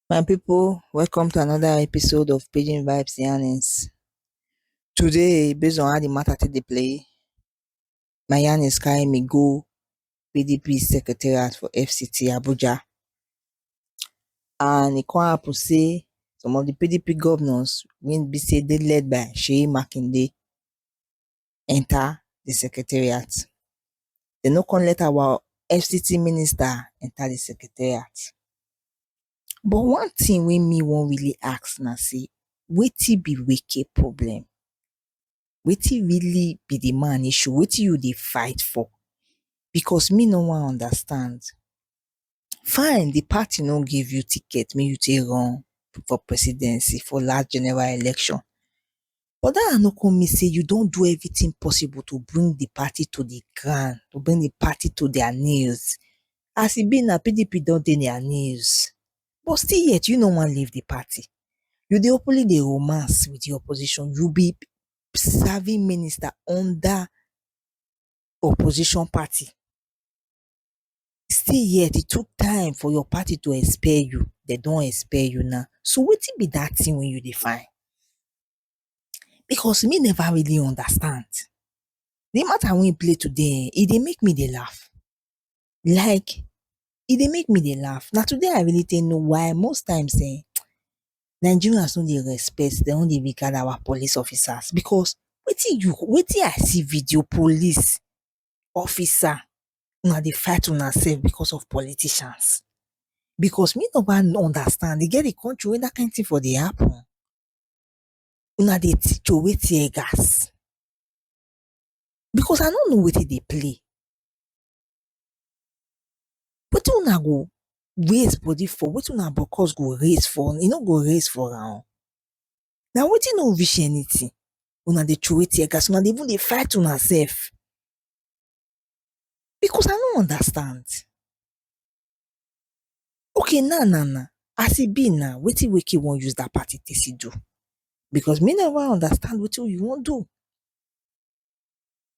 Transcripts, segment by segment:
My people, welcome to another episode of Pidgin Vibes Yarnings. Today, based on how the matter take dey play, Mayanis carry me go PDP secretariat for FCT Abuja and e come happen sey some of di PDP governors wey be sey dey led by Seyi Makinde enter di secretariat, dem no come let our FCT minister enter di secretariat but one thing wey me wan really ask na sey wetin be Wike problem? wetin really be the man issue? Wetin you dey fight for? Because me no wan understand. Fine, the party no give you ticket make you take run for presidency for last general election. But dat one no con mean sey you don do everything possible to bring the party to the ground, to bring the party to their knees. As e be now, PDP don dey their knees. but still yet you no wan leave the party. You dey openly dey romance with the opposition, you be serving minister under opposition party still yet e took time for your party to expel you, dem don expel you now, so wetin be that thing wey you dey find? Because me never really understand, the matter wey you play today ehn, e dey make me dey laugh. Like e dey make me dey laugh. Na today I really take know why most times um Nigerians no dey respect, dem no dey regard our police officers because wetin you wetin I see video police officer, una dey fight una self because of politicians? Because me never understand, e get the country wey that kind thing for dey happen? Una dey throway tear gas? Because I no know wetin dey play. Wetin una go raise body for, wetin una bokkos go raise for, e no go raise for una. Na wetin no reach anything una dey throway tear gas, una dey even dey fight una sef. Because I no understand. Okay now now now, as e be now, wetin Wike wan use dat party take still do? Because me no even understand wetin you wan do.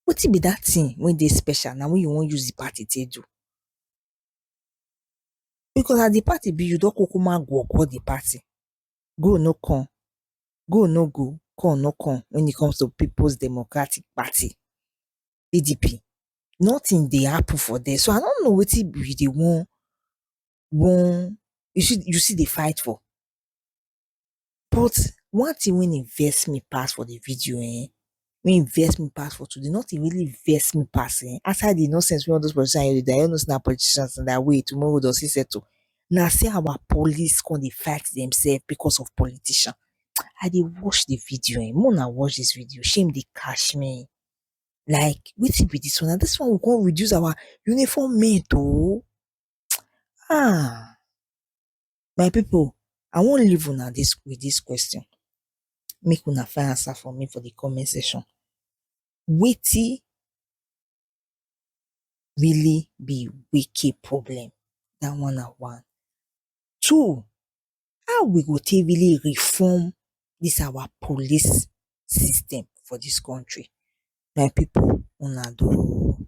Wetin be dat thing wey dey special now wey you wan use di party take do? Because as di party be you don kukuma go go di party, go no come, go no go, come no come when it comes to Peoples Democratic Party, PDP, nothing dey happen for there so I no know wetin you dey wan wan, you still you still dey fight for? But one thing wey dey vex me pass for the video um wey dey vex me pass for today, nothing really vex me pass um aside the nonsense wey all those politicians dey do, dem no know say na politicians na their way tomorrow dem go still settle, na say our police come dey fight themselves because of politician. I dey watch the video um, make una watch this video, shame dey catch me. Like wetin be this one, na this one we come reduce our uniform men to? um Ahh. My pipu I wan leave una with dis question make una find answer for me for de comment section. Wetin really be wiki problem? dat one na one. Two, how we go take really reform dis our police system for dis country? My pipu una do oo.